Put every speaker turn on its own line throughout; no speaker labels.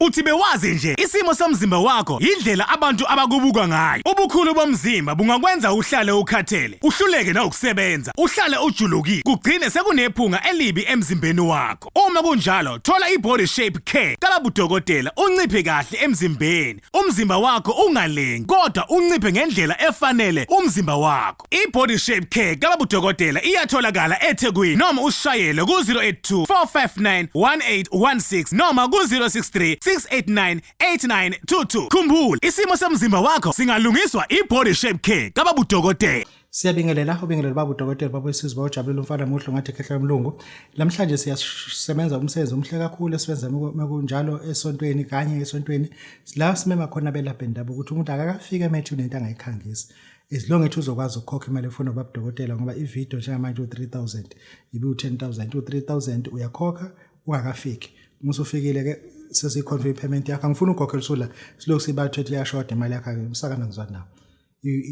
Uthi bewazi nje isimo somzimba wakho yindlela abantu abakubuka ngayo. Ubukhulu bomzimba bungakwenza uhlale ukhathele, uhluleke nawukusebenza, uhlale ujulukile, kugcine sekunephunga elibi emzimbeni wakho. Uma kunjalo, thola i-body shape care kalabudokotela unciphe kahle emzimbeni. Umzimba wakho ungalengi, kodwa unciphe ngendlela efanele umzimba wakho. Park. I-Body Shape Care kababudokotela iyatholakala eThekwini noma usishayele ku-082 459 1816 noma ku-063 689 8922. Khumbula, isimo somzimba wakho singalungiswa i-Body Shape Care kababudokotela. Siyabingelela
ubingelela baba udokotela baba wesizwe bawujabulile umfana muhle ngathi khehla umlungu namhlanje siyasebenza umsebenzi omhle kakhulu esiwenza mekunjalo esontweni kanye esontweni la simema khona belapha bendabuko ukuthi umuntu akakafika emethu nento angayikhangisi as long ethi uzokwazi ukukhokha imali efuna ubaba dokotela ngoba ivideo njengamanje u-3000 ibe u-10000 u-3000 uyakhokha ungakafiki uma usufikile ke sesiyikhontra i-payment yakho angifuni ukhokhela usula silokhu sibathu ethi iyashoda imali yakho-ke umsakana ngizwa nawo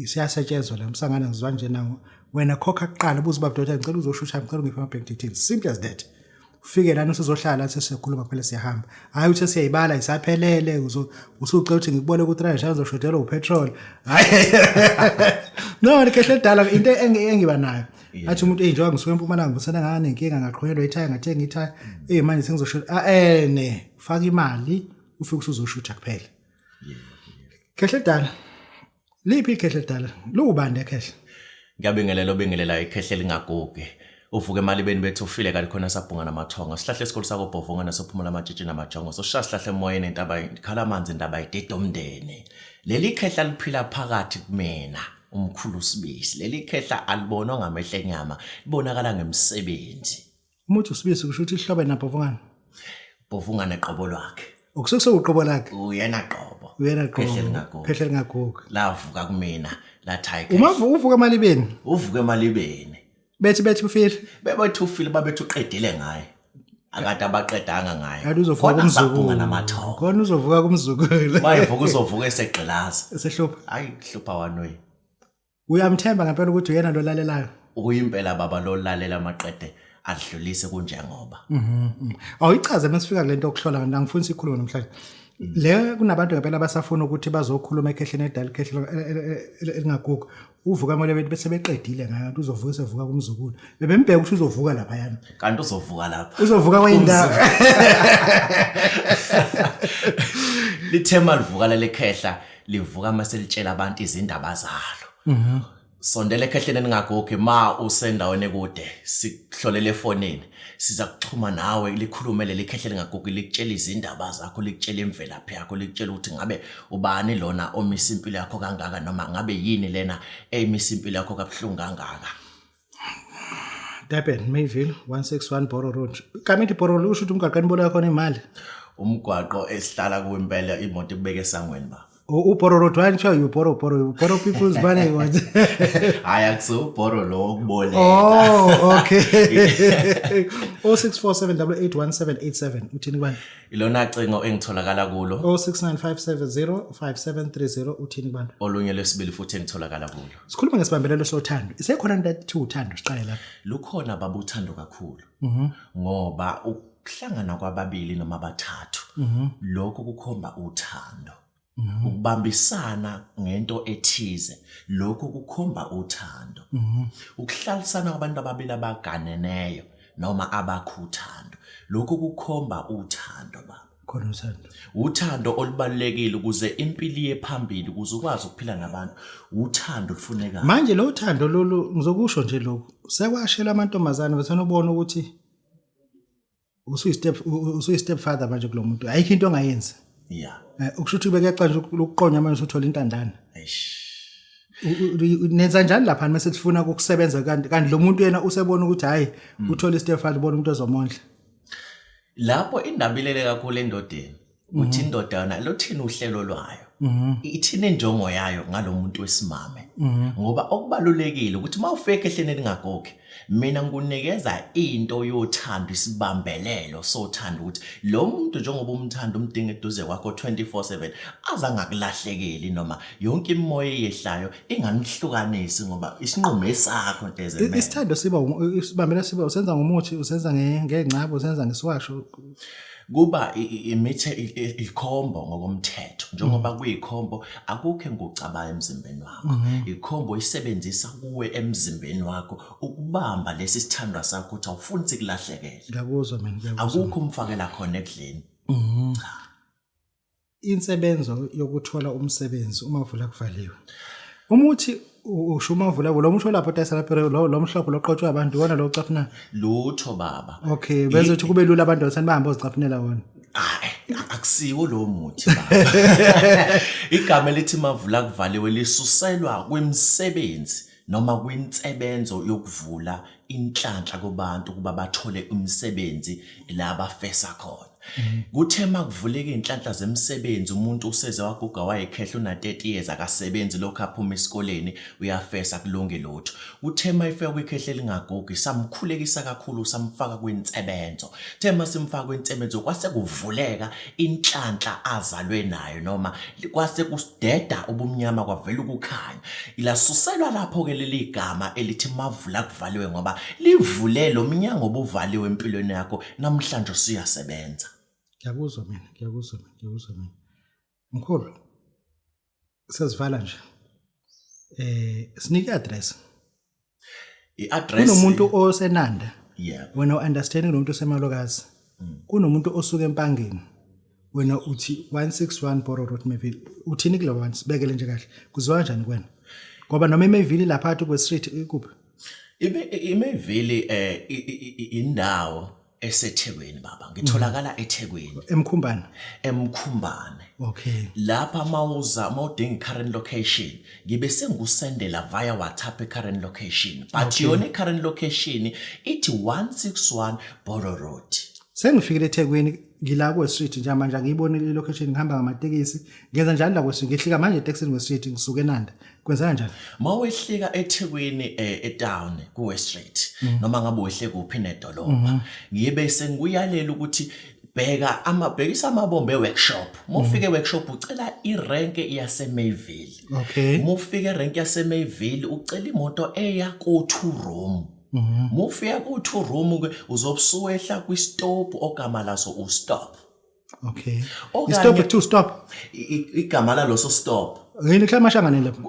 siyasetshenzwa la umsangana ngizwa nje nawo wena khokha kuqala ubuze ubaba dokotela ngicela uzoshusha ngicela ungiphe ama-bank details simple as that ufike lana usuzohlala sesikhuluma phela siyahamba hayi uthe siyayibala isaphelele usucela ukuthi ngikubone ukuthi rayisha ngizoshodelwa upetrol hayi no likehle dala into engiba nayo athi umuntu eyi njengoba ngisuke empumalanga ngibusana ngane nkinga ngaqhonyelwa ithaya ngathenga ithaya eyi manje sengizoshoda ah, ene eh, faka imali ufike usuzoshutha kuphela kehle dala Liphi ikhehle lidala? Liwubani ekhehle? Ngiyabingelela
obingelela ikhehle lingagugi. Uvuke emalibeni bethu ufile kanti khona sabhunga namathongo. Sihlahle esikhulu sako Bhovunga nasophumula amatshitshi namajongo. Sosha sihlahle emoyeni intaba ikhala amanzi intaba idida umndeni. Leli khehla liphila phakathi kumina umkhulu sibisi. Leli khehla alibonwa ngamehla enyama, libonakala ngemisebenzi. Uma uthi usibisi
kusho ukuthi ihlobo enabhovungana. Bhovungana
qobo lwakhe. Ukusuke sewuqobo lakhe.
Uyena qobo.
Uyena qobo. Phehle lingagugu. Phehle
lingagugu. Lavuka kumina
la tiger. Uma uvuka
emalibeni. Uvuka emalibeni.
Bethi bethi ufile.
Bebethi ufile babethi
uqedile ngaye. akade abaqedanga ngaye kanti uzovuka kumzukulu
namathongo khona
uzovuka
kumzukulu mayevuka uzovuka
esegqilaza esehlupha hayi
hlupha wanwe
uyamthemba
ngempela ukuthi uyena lo lalelayo uyimpela baba
lo lalela maqede adlulise kunjengoba awuyichaze
mesifika kule nto yokuhlola ngani angifuni sikhulume namhlanje le kunabantu ngempela abasafuna ukuthi bazokhuluma ekhehleni edala ikhehle elingaguga uvuka kumele bethi bese beqedile ngayo nto uzovuka sevuka kumzukulu bebembheka ukuthi uzovuka laphayana kanti uzovuka lapha
uzovuka kwenye indawo lithema livuka lalekhehla livuka uma selitshela abantu izindaba zalo mhm. sondela ekhehleni ningagogi ma usendaweni ekude sikuhlolele efonini siza kuxhuma nawe likhulume leli khehleni ngagogi likutshela izindaba zakho likutshela imvelaphi yakho likutshela ukuthi ngabe ubani lona omisa impilo yakho kangaka noma ngabe yini lena emisa impilo yakho kabuhlungu kangaka Durban
Mayville 161 Boro Road kamiti Boro Road usho ukuthi umgwaqo enibolo yakho nemali umgwaqo
esihlala kuwo impela imoto ibeke esangweni ba uboro road wani kuthiwa
yuboro boro boro people's bane what hayi akuso
uboro lo okuboleka oh okay
0647881787 uthini kubani ilona cingo
engitholakala kulo 0695705730
uthini kubani olunye lesibili futhi
engitholakala kulo sikhuluma ngesibambelelo
sothando isekhona into ethi uthando siqale lapha lukhona baba uthando
kakhulu mhm. ngoba ukuhlangana kwababili noma bathathu mhm. lokho kukhomba uthando mhm. ukubambisana ngento ethize lokho kukhomba uthando ukuhlalisana kwabantu ababili abaganeneyo noma abakhuthando lokho kukhomba uthando baba khona uthando
uthando
olubalekile ukuze impilo iye phambili ukuze ukwazi ukuphila nabantu uthando lufunekayo manje lo thando
lolu ngizokusho nje lokhu sekwashela amantombazane bethana ubona ukuthi usuyi step usuyi step father manje kulomuntu ayikho into ongayenza yeah eh,
ukusho ukuthi ubeke xa
nje ukuqonya manje usuthola intandana eish nenza njani lapha mase sifuna ukusebenza kanti kanti lo muntu yena usebona ukuthi hayi hmm. uthole istefani ubona umuntu ezomondla
lapho indaba ilele kakhulu endodeni mhm. uthi indoda yona lothini uhlelo lwayo mhm. ithini injongo yayo ngalomuntu wesimame mhm. ngoba okubalulekile ukuthi uma ufeke ehleni elingagoki mina ngikunikeza into yothando isibambelelo sothando ukuthi lo muntu njengoba umthanda umdinga eduze kwakho 24/7 azangakulahlekeli noma yonke imimoya eyehlayo inganihlukanisi ngoba isinqumo esakho ntezembe isithando siba
sibambela siba usenza ngomuthi usenza ngengcabo usenza ngesiwasho kuba
imithe ikhombo ngokomthetho njengoba mm. kuyikhombo akukho engucaba emzimbeni wakho mm-hmm. ikhombo isebenzisa kuwe emzimbeni wakho ukubamba lesi sithandwa sakho ukuthi awufuni sikulahlekele ngiyakuzwa mina
akukho umfakela
khona ekudleni mm-hmm. cha
insebenzo yokuthola umsebenzi uma vula kuvaliwe uma uthi usho uma vula vula umusho lapho tayisa lapho lo mhlophe loqotshwa abantu iwona lo ucaphuna lutho baba
okay benza ukuthi kube
lula abantu bathanda bahambe ozicaphunela wona akusiwo
lowo muthi igama elithi mavula kuvaliwe lisuselwa kwemisebenzi noma kwinsebenzo yokuvula inhlanhla kubantu ukuba bathole umsebenzi la bafesa khona kuthe makuvuleka inhlanhla zemisebenzi umuntu useze waguga wayekhehla una 30 years akasebenzi lokho aphuma esikoleni uyafesa kulunge lutho kuthe mayifika kwikhehla elingagugi samkhulekisa kakhulu samfaka kwinsebenzo kuthe masimfaka kwinsebenzo kwase kuvuleka inhlanhla azalwe nayo noma kwase kudeda ubumnyama kwavela ukukhanya ilasuselwa lapho-ke leli gama elithi mavula kuvaliwe ngoba livule lo mnyango obuvaliwe empilweni yakho namhlanje usuyasebenza ngiyakuzwa
mina ngiyakuzwa mina ngiyakuzwa mina mkhulu sesivala nje eh sinike address
i-address kunomuntu
osenanda yeah wena
uunderstand kunomuntu
osemalokazi mm. kunomuntu osuke empangeni wena uthi 161 Boro Road Mayville uthini kulabo bantu sibekele nje kahle kuzwa kanjani kwena ngoba noma iMayville lapha phansi kwe street ikuphi
iMayville eh indawo esethekwini baba ngitholakala mm. ethekwini emkhumbane
emkhumbane okay lapha mawuza
mawudinga current location ngibe sengusendela via whatsapp current location but okay. yona current location ithi 161 Boro Road sengifikile
ethekwini ngila kwe street njengamanje ngiyibonile i location ngihamba ngamatekisi ngenza njani la kwe street ngihlika manje etekisini kwe street ngisuke enanda kwenzeka njani uma wehlika
ethekwini eh, etown kuwe street mm. noma ngabe wehle kuphi nedolobha mm-hmm. ngibe sengikuyalela ukuthi bheka amabhekisa amabombe workshop mufike workshop ucela irank yase Mayville okay mufike
rank yase
Mayville ucela imoto eya ko two room mhm. mufika ku two room ke uzobusuwehla kwi stop ogama laso u stop Okay.
Okanye- Stop it too, stop. I- i- Igama
laloso stop. Ngene khlala mashangane
lapha.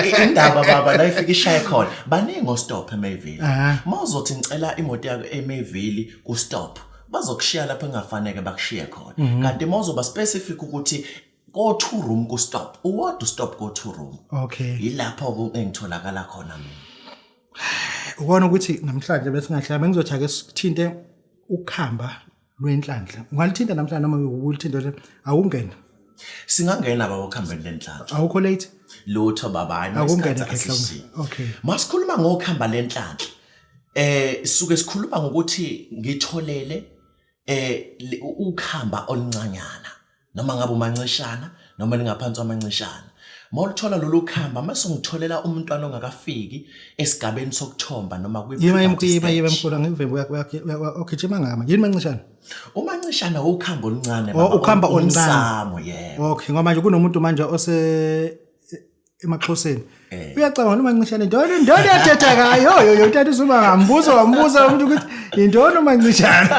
I-
Indaba baba la ifika ishaye khona. Baningi ostop eMayville. Aha. Mawuzothi ngicela imoto yakho eMayville ku stop. Bazokushiya lapho engafaneke bakushiye khona. Mhm. Kanti mawuzoba specific ukuthi go two room ku stop. Uwodwa stop go two room. Okay. Yilapho
ku-
engitholakala khona mina.
Ukona ukuthi namhlanje bese ngahlala bengizothi ake sithinte ukuhamba lwenhlanhla. Ungalithinta namhlanje noma ukulithinta nje awungena. Singangena
baba ukuhambeni lenhlanhla. Awukho late?
Lutho baba hayi
Awungena esikhathi. khehla.
Okay. Masikhuluma ngokuhamba
lenhlanhla. Eh suke sikhuluma ngokuthi ngitholele eh le- ukhamba oluncanyana. noma ngabe umancishana noma lingaphansi kwamancishana uma ulithola lolu khamba uma sungitholela umntwana ongakafiki esigabeni sokuthomba noma kwiyibayimkhulu
angivimbi uyagijima ngama yini mancishana umancishana
ukhamba oluncane oh, ukhamba oluncane yebo okay ngoba manje kunomuntu
manje ose emaxhoseni eh. uyacabanga noma ncishane ndona ndona yathetha ngayo yo yo utata usuba ngambuzo wambuza umuntu ukuthi indona uma ncishane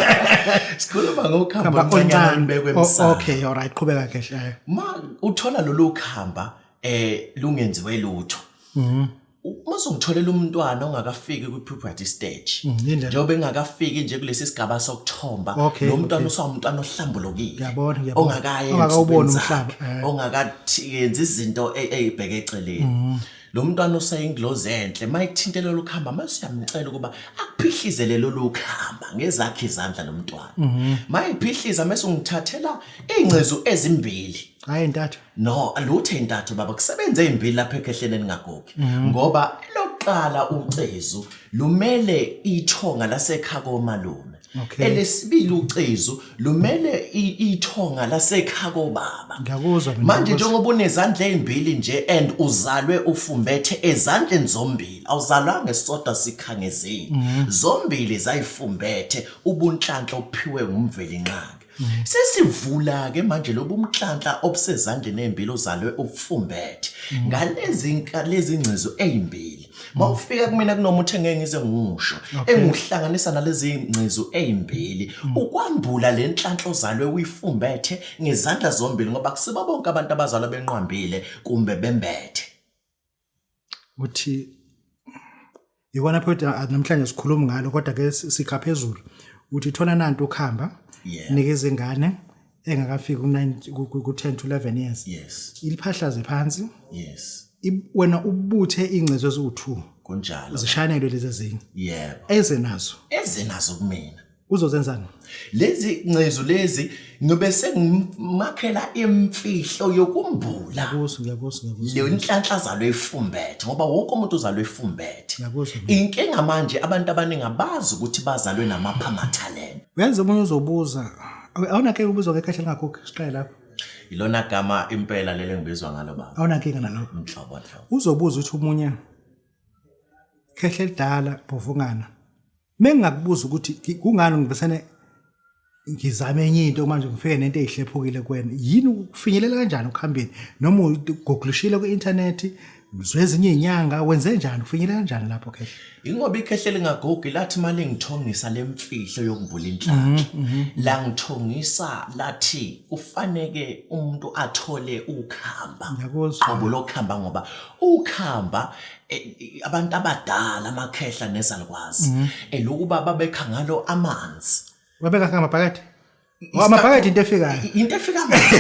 sikhuluma
ngokuhamba oncane bekwe msana okay all right qhubeka
kahle eh. ma uthola
lolu khamba eh lungenziwe lutho mhm uma songitholela umntwana ongakafiki kwi-puberty stage mm, njengoba engakafiki nje kulesi sigaba sokuthomba lo mntwana usawumntwana ohlambulukile ongakaye
ongakawuboni
umhlaba eh. ongaka yenza izinto e- eyibheke eceleni mm-hmm. lo mntwana useyingilozi enhle uma ethinte lolu khamba uma siyamcela ukuba akuphihlizele lolu khamba ngezakhe izandla lo mntwana uma mm-hmm. ephihliza mese ungithathela iy'ngcezu ezimbili hayi intathu no lutho intathu baba kusebenze ezimbili lapha ekhehleni eningagogi
mm-hmm.
ngoba lokuqala ucezu lumele ithonga lasekhako malume Okay. Elesibili
ucezu
lumele ithonga lasekhaya kobaba. Ngiyakuzwa mina. Manje
njengoba unezandla
ezimbili nje and uzalwe ufumbethe ezandleni zombili. Awuzalwanga esisodwa sikhangezile. Mhm. Zombili zayifumbethe ubunhlanhla ophiwe ngumveli nqangi. Sesivula-ke manje lobu mhlanhla obusezandleni ezimbili ozalwe ubufumbethe ngalezi nka- lezi ngcezu ezimbili. Uma ufika kumina kunomuthi engeke ngize ngiwusho engiwuhlanganisa nalezi ngcezu ezimbili ukwambula le nhlanhla ozalwe uyifumbethe ngezandla zombili ngoba kusiba bonke abantu abazalwa benqwambile kumbe bembethe.
uthi yikona phethu namhlanje sikhuluma ngalo kodwa ke sikha phezulu uthi thona nanti ukhamba nikeza ingane engakafiki ku-10 to 11 years yes iliphahlaze
phansi
yes
wena
ubuthe ingcezo eziwu2 kunjalo zishanelwe
lezi ezinye
yebo ezenazo ezenazo kumina
Uzozenzani?
Lezi
ncezu lezi ngibe sengimakhela imfihlo yokumbula. Ngiyakuzwa, ngiyakuzwa, ngiyakuzwa.
Leyo inhlanhla
zalo efumbethe ngoba wonke umuntu uzalwe efumbethe. Ngiyakuzwa. Inkinga
manje
abantu abaningi abazi ukuthi bazalwe namapha amathalente. Uyazi omunye uzobuza
awu- awunakeke ubuzwa ngekhaya lingakhokhi siqale lapho Ilona gama
impela lelo engibizwa ngalo baba. awunankinga nalokho Mhlobo
mhlobo. uzobuza
ukuthi omunye
khehla elidala bhovungana Mengingakubuza ukuthi kungani ngivesane ngizame enye into manje ngifike nento eyihlephukile kuwena yini ukufinyelela kanjani ukuhambeni noma ugoglushile ku-internet ngizwe ezinye inyanga wenze njani ufinyele kanjani lapho khehle ingoba ikhehle
lingagogi lathi mali ngithongisa lemfihlo yokuvula inhlanhla mhm, mhm. la ngithongisa lathi kufaneke umuntu athole ukuhamba ngoba
lokuhamba ngoba
ukuhamba eh, abantu abadala amakhehla nezalukwazi mhm. elokuba eh, babekha ngalo amanzi babeka ngamabhakede
Ngoba maphakathi into efikayo. Into efika manje.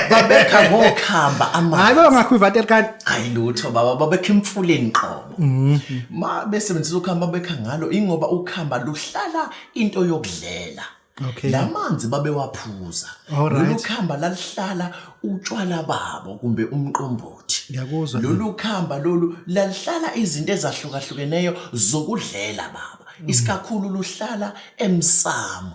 Babekha ngokhamba amanzi. Hayi baba ngakho ivatele kanti.
Hayi lutho baba
babekha imfuleni qobo. Mhm. Ma besebenzisa ukhamba babekha ngalo ingoba ukhamba luhlala into yokudlela. Okay. La
manzi
babewaphuza. Alright. Lolu khamba lalihlala utshwala babo kumbe umqombothi. Ngiyakuzwa. Lolu
khamba lolu
lalihlala izinto ezahlukahlukeneyo zokudlela baba. Mm. Isikakhulu luhlala emsamo.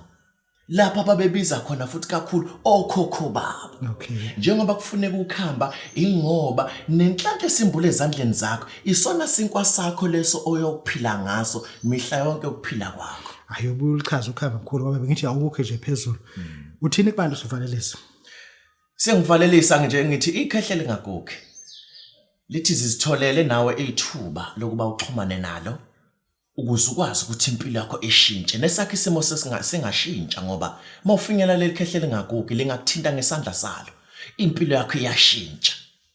Lapha babebiza khona futhi kakhulu okhokho babo. Okay. Njengoba
kufuneka
ukhamba ingoba nenhlanhla esimbule ezandleni zakho isona sinkwa sakho leso oyokuphila ngaso mihla yonke ukuphila kwakho. hayi ubuye ulichaze
ukhava mkhulu ngoba bengithi awukukhe nje phezulu hmm. uthini kubantu sivalelisa
sengivalelisa nje ngithi ikhehle lingagokhi lithi zizitholele nawe ithuba lokuba uxhumane nalo ukuze ukwazi ukuthi impilo yakho ishintshe nesakhe isimo sesingashintsha ngoba mawufinyela leli khehle lingagokhi lingakuthinta ngesandla salo impilo yakho iyashintsha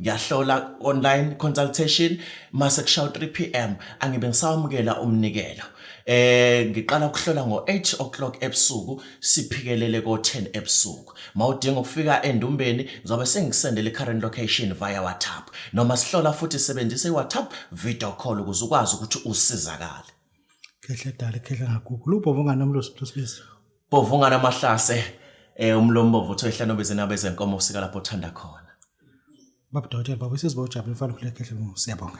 ngiyahlola online consultation mase kushawa 3 pm angibe ngisawamukela umnikelo eh ngiqala ukuhlola ngo 8 o'clock ebusuku siphikelele ko 10 ebusuku mawudinga ukufika endumbeni ngizobe sengisendele current location via WhatsApp noma sihlola futhi sebenzisa iWhatsApp video call ukuze ukwazi ukuthi usizakale khehla
dali khehla ngagugu lubhobo nganomlosi mhlosibisi Bovungana
amahlase eh umlombovu uthe ehlano bezinaba ezenkomo usika lapho uthanda khona. Baba
Dawudela baba sesiba ujabule mfana khuleka ehle ngoba siyabonga.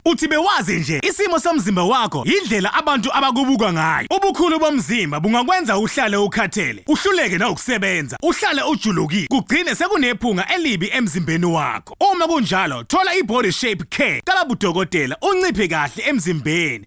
Uthi bewazi
nje isimo somzimba wakho yindlela abantu abakubuka ngayo. Ubukhulu bomzimba bungakwenza uhlale ukhathele, uhluleke nawukusebenza, uhlale ujulukile, kugcine sekunephunga elibi emzimbeni wakho. Uma kunjalo, thola i-Body Shape Care kababudokotela unciphe kahle emzimbeni,